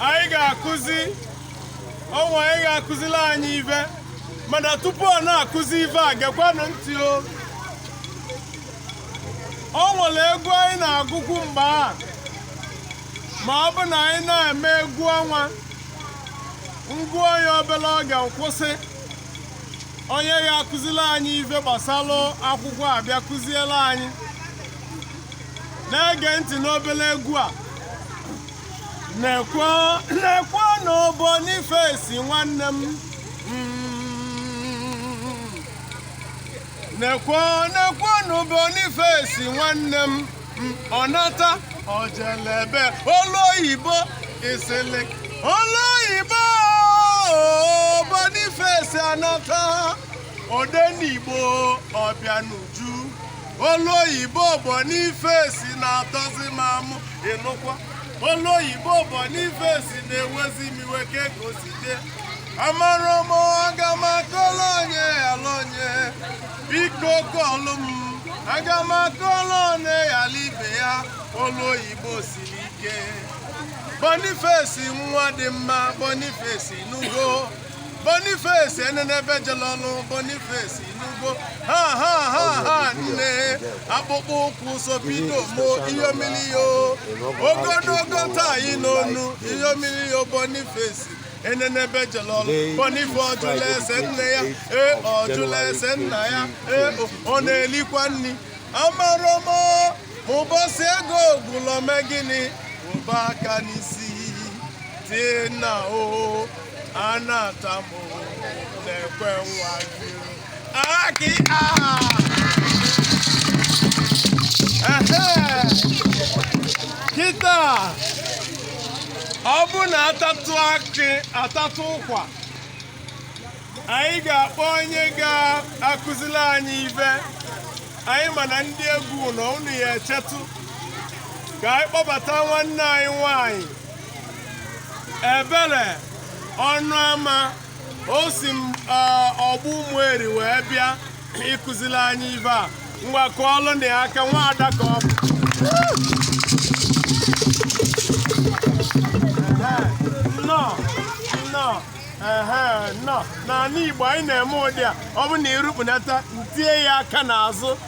anyị ga-akụzi ọnwa anyị ga-akụzila anyị ife mana tupu ọ na-akụzi ife a gekwanụ ntị o o nwere egwu anyị na-agụkwu mgbe a ma ọ bụ na anyị na-eme egwu ọnwa ngụọ ya obere oge nkwụsị onye ga-akụziri anyị ife gbasara akwụkwọ abịa kụziere anyị na-ege ntị n'obere egwu a nekwa nekwanụ Boniface nwanne m Mm. nekwa nekwanụ Boniface nwanne m Mm. ọ nata o jelebe ọlụ oyibo isili ọlụ oyibo Boniface anata odenigbo ọbịa n'uju ọlụ oyibo Boniface na-atọzi m amụ ịlụkwa ọlụ oyibo Boniface na-ewezi m iwe ka ego si dị amara m aga m akọlụ onye yala onye biko kọọlụ m aga m akọlụ onye yala ibe ya ọlụ oyibo siri ike Boniface nwa dị mma Boniface nugo Boniface enenebe jele ọlụ Boniface ị nụgo ha ha ha ha nne akpụkpọ ụkwụ sopido mo iyomiliyo ogologo tie n'onu iyomiliyo Boniface enenebe jele ọlụ Boniface ọ jụla ese nne ya ee ọ jụla ese nna ya ee ọ na-elikwa nri amarọ m o ụbọchị ego gwụlụ o mee gịnị ụba aka n'isi dina o anatamu na-ekwe nwa gị akị aha kịta ọ bụ na atatụ akị atatụ ụkwa anyị ga-akpọ onye ga-akụziri anyị ife anyị mana ndị egwu na ụnụ ya echetụ ka anyị kpọbata nwanne anyị nwanyị Ebere Ọnụama o si eh, Ọgbụ Ụmụeri wee bịa ịkụziri anyị ife a ngwa kụọlụnụ ya aka nwaada ka ọ bụ nnọọ nnọọ ehe nnọọ n'anị igbo anyị na-eme ụdị a ọ bụ na irukpunata ntie ya aka n'azụ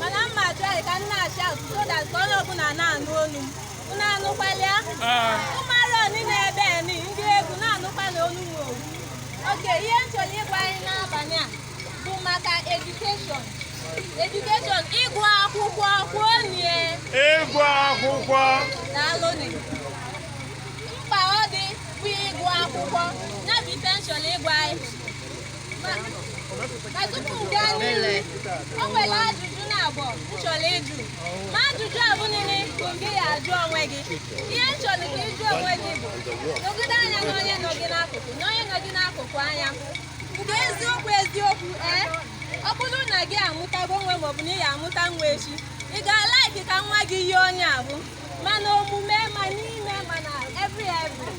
mana m ma achọghị ka m na-achị ahụ so that ka onye ọbụla na-anụ olu m unu anụkwala ya ụmụ arọ oni n'ebe ni ndị egwu na-anụkwala olu m owu oke ihe m chọrọ ịgwa anyị n'abalị a bụ maka edukeshọn edukeshọn ịgụ akwụkwọ kwuonie Ịgụ akwụkwọ daalụnị mkpa ọ dị bụ ịgụ akwụkwọ ya bụ ife m chọrọ ịgwa anyị o nwere ajụjụ naabọ m chọrọ ịjụ ma ajụjụ ahụ niile bụ gị ya ajụ onwe gị ihe m chọrọ ka ị jụọ onwe gị bụ negide anya na onye nọ gị n'akụkụ na onye nọ gị n'akụkụ anya nke eziokwu eziokwu ee ọ bụrụ na gị amụtago nwa maọbụ na ị ya amụta nwa echi ị ga-alaiki ka nwa gị yie onye ahụ ma n'omume ma n'ime ma na every every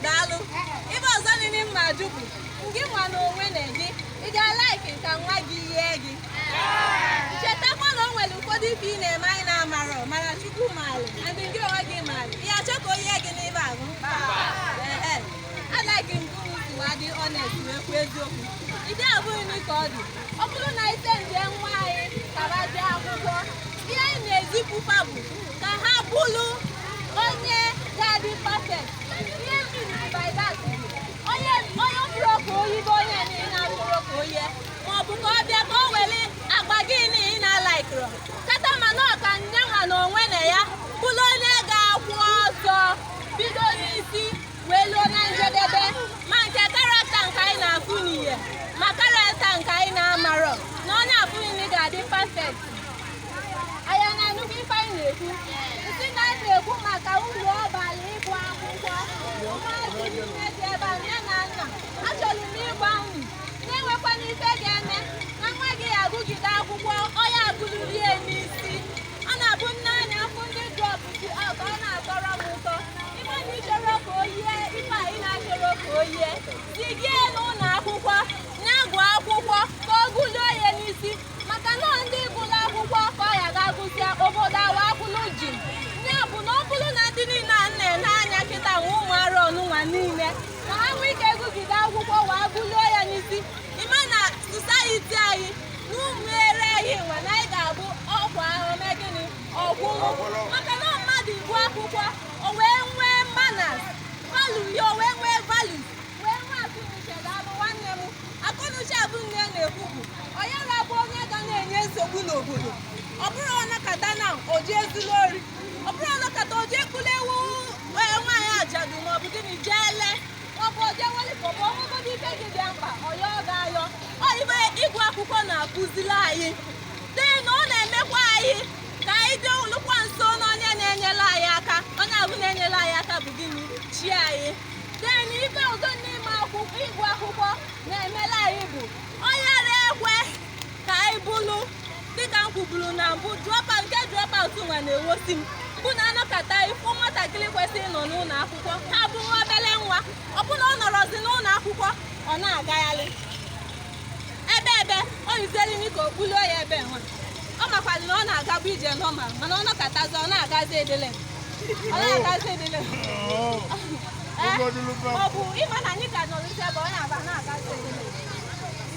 daalụ ife ọzọ nile m ma ajụ bụ ngị nwa na onwe na gị ị ga-alaiki ka nwa gị yie gị chetakwa na o nwere ụfọdụ ife ị na-eme anyị na-amarọ mana chukwu maara and gị onwe gị maara ị ya achọ ka o yie gị n'ife ahụ alaiki m ka unu si wee dị honest wee kwuo eziokwu ide abụghị n'ike ọ dị ọ bụrụ na anyị sendie nwa anyị ka ha jee akwụkwọ ihe anyị na-ezipụkwa bụ ka ha bụrụ onye ga-adị perfect ihe m miini by that bụ onye onye ọ bụrọ ka o yie bụ onye niile ọ bụrọ ka o yie ma ọ bụ ka ọ bịa ka o were agwa gị niile na-alaikịrọ kata mana ọ ka nya nwa na onwe na ya bụrụ onye ga-akwụ ọtọ bido n'isi wee luo na njedebe ma nke karakta nke anyị na-afụ n'ihe ma karakta nke anyị na-amarọ na onye afụ nị ga-adị perfect anyị na-anụkwa ife anyị na-ekwu m sị na anyị na-ekwu maka uru ọ bara ịgụ akwụkwọ ụmụazị niile dị ebe a nne na nna achọrọ m ịgwa unu na enwekwana ife ga-eme na nwa gị agụgide akwụkwọ ọ ya agụrurie n'isi a na-abụ na anyị afụ ndị dropụzi ọka ọ na-atọrọ m ụtọ ị ma na ị chọrọ ka o yie ife anyị na-achọrọ ka o yie jigide ya n'ụlọ akwụkwọ na-agụ akwụkwọ ka ọ gụluo ya n'isi maka na ọ ndị gụrụ akwụkwọ ka ọ ya ga-agụsịa obodo a nwa akwụlụ chịm ya bụ na ọ bụrụ na ndị niile a na-ele anya kịta nwa ụmụ arọ nụnwa niile ka ha nwee ike gụgide akwụkwọ wee gụluo ya n'isi ị ma na society anyị n'ụmụere anyị nwa na anyị ga-abụ okwu ahụ mee gịnị ọgwụgwụ maka na mmadụ ịgụ akwụkwọ o wee nwee manners value ya o wee nwee value wee nwee akọnuche ya bụ nwanne m akọnuche ahụ anyị na-ekwu bụ ọ yarọ abụ onye ga na-enye nsogbu n'obodo ọ bụrọ ọ nọkata na o je ezulu ori ọ bụrọ ọ nọkata o je ekpulu ewu eh, nwaanyị ajadu maọbụ gịnị jee lee ọ bụ oje nwere ka ọ bụ ọnwụgodị ibe dị ya mkpa ọ ya-aga ayọ ọ ibe ịgụ akwụkwọ na-akụziri anyị then ọ na-emekwa anyị ka anyị dịlukwa nso na onye na-enyere anyị aka onye ahụ na-enyere anyị aka bụ gịnị chi anyị then ibe ọzọ n'ime ịgụ akwụkwọ na-emere anyị bụ ọ yara ekwe ka anyị bụrụ dịka m kwuburu na mbụ dropout nke dropout nwa na-ewosi m bụ na a nọkọta ị fụ nwatakịrị kwesịrị ịnọ n'ụlọ akwụkwọ ha bụ nwa obere nwa ọ bụrụ na ọ nọrọzi n'ụlọ akwụkwọ ọ na-agagharị ebe ebe o yiziere imi ka o kpulie ya ebe nwa ọ makwara na ọ na-agabu ije normal mana ọ nọkọtazi ọ na-agazi edele ọ na-agazi edele Ee, ọ bụ ịma na anyị ka nọrọ isi ebe ọ na-aba na-agazi edele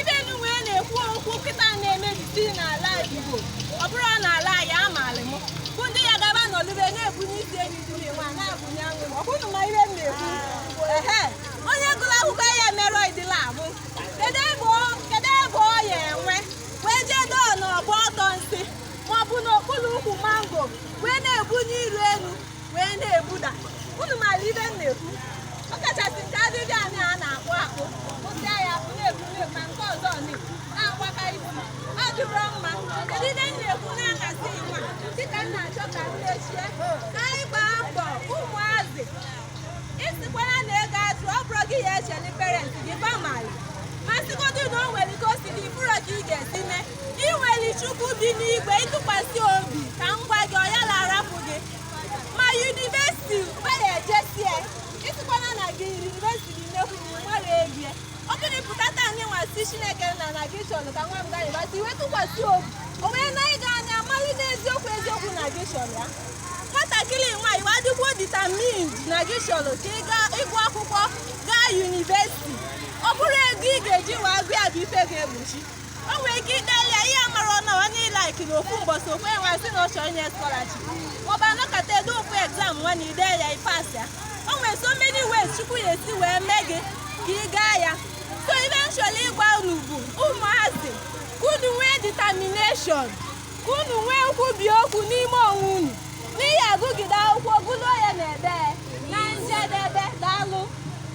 ibe nụnwa a na-ekwu okwu kịta na-emebisi n'ala Igbo ọ bụrụ na ala anyị amaala m bụ ndị ya gaba n'olube na-ebunye isi enu nwa na-abụnye anwụ ọ kwa unu ma ihe m na-ekwu ehe onye gụrụ akwụkwọ ya mere ụdị ala abụ kedu ebe ọ- kedu ebe ọ ya enwe wee jee dọọ n'ọgba ọdọ nsị maọbụ n'okpuru ukwu mango wee na-ebunye iru elu wee na-ebuda unu maara ibe m na-ekwu ọ kachasị nke adịdị anyị a na-akpụ akpụ kwụsịa ya akpụ na-ekwu ma nke ọzọ na-agbaka isi ọ dịrọ mma kedu ibe m na-ekwu na-ahazi nwa kịta m na-achọ ka m mechie ka anyị gbaa mbọ ụmụazị ịsịkwara na ego azụ ọ bụrọ gị ya echeli parents gị ba maalị ma sịgodu na o nwere ike o si gị ị bụrọ ka ị ga-esi mee I nweli Chukwu dị n'igwe ị tụkwasị obi ka m gwa gị ọ yara arapụ gị ma yunivesiti were ejesie ịsịkwana na gị yunivesiti gị mekwu na ịmara ebie ọ bụrụ pụta taa anyị nwasị Chineke na na gị chọrọ ka nwa m gaa yunivesiti wee tụkwasị obi o wee na ịga anya mmalụ n'eziokwu eziokwu na gị chọrọ ya nwatakịrị nwaanyị wa dịkwuo determined na gị chọrọ ka ị gaa ịgụ akwụkwọ gaa yunivesiti ọ bụrọ ego ị ga-eji wee gụ ya bụ ife ga-egbochi o nwere ike ideli ya ihe mara ọnụ onye ilaiki na ofu mbọsị okwe nwa sị na ọ chọ inye scholarship maọbụ a nọkọta e do ofu exam nwa na i dee ya i pass ya o nwere so many ways Chukwu ya esi wee mee gị ka ị gaa ya so ife m chọlụ ịgwa unu bụ ụmụazị ka unu nwee determination ka unu nwee nkwubi okwu n'ime onwe unu na ị ya-agụgide akwụkwọ gụlụo ya na ebe na njedebe daalụ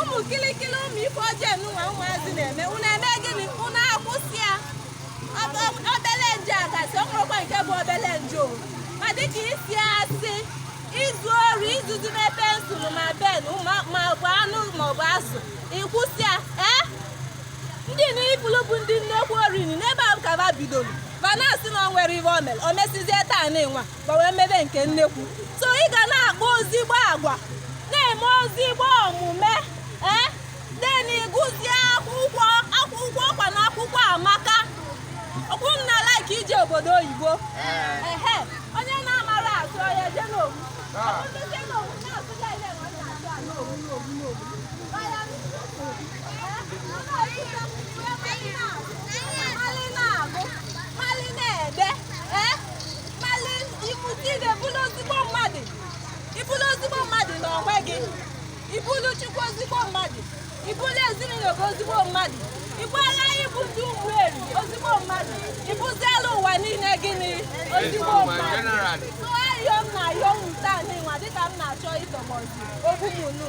ụmụ kilikili ụmụ ife ọjọọ nụnwa ụmụazị na-eme unu eme gịnị unu akwụsị ya obele njọ gasị o nwerọkwa nke bụ obele njọ ma dịka ịsị asị izu ori izuzu ma pensụl ma pen ma ọ bụ anụ ma ọ bụ azụ ị kwụsị ya ee ndị nị ị bụlụ bụ ndị nnekwu ori nị n'ebe a ka ba bidoro ba na-asị na o nwerọ ihe o mere o mesizie taa nịnwa gbanwee mebe nke nnekwu so ị ga na-akpa ozigbo agwa na-eme ozigbo omume ee then ịgụzie akwụkwọ ọkwa na akwụkwọ amaka ọ bụ na ị like ije obodo oyibo ehe onye na-amara atụ ọya je n'owu ọtụtụ je n'owu na-atụ ya ile ma ọ na-atụ a n'owu n'owu n'owu ọya mali na-agụ mali na-ede ee malị ịmụta ide bụrụ ozigbo mmadụ ị bụrụ ozigbo mmadụ na onwe gị ị bụrụ chukwu ozigbo mmadụ ị bụrụ ezinụlọ gị ozigbo mmadụ ị bụala ịbụ ndị ụmụeri ozigbo mmadụ ị bụziela ụwa niile gịnị ozigbo mmadụ so ayọ m na-ayọ m taa n'ịnwa dịka m na-achọ ịtọgbọzi okwu m unu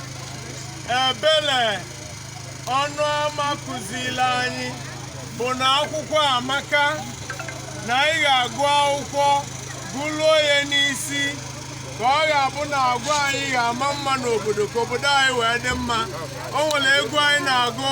ebele ọnụama kụziri anyị bụ na akwụkwọ amaka na anyị ga-agụ akwụkwọ gụruo ya n'isi ka ọ ga-abụ na agwa anyị ga-ama mma n'obodo ka obodo anyị wee dị mma o nwere egwu anyị na-agụ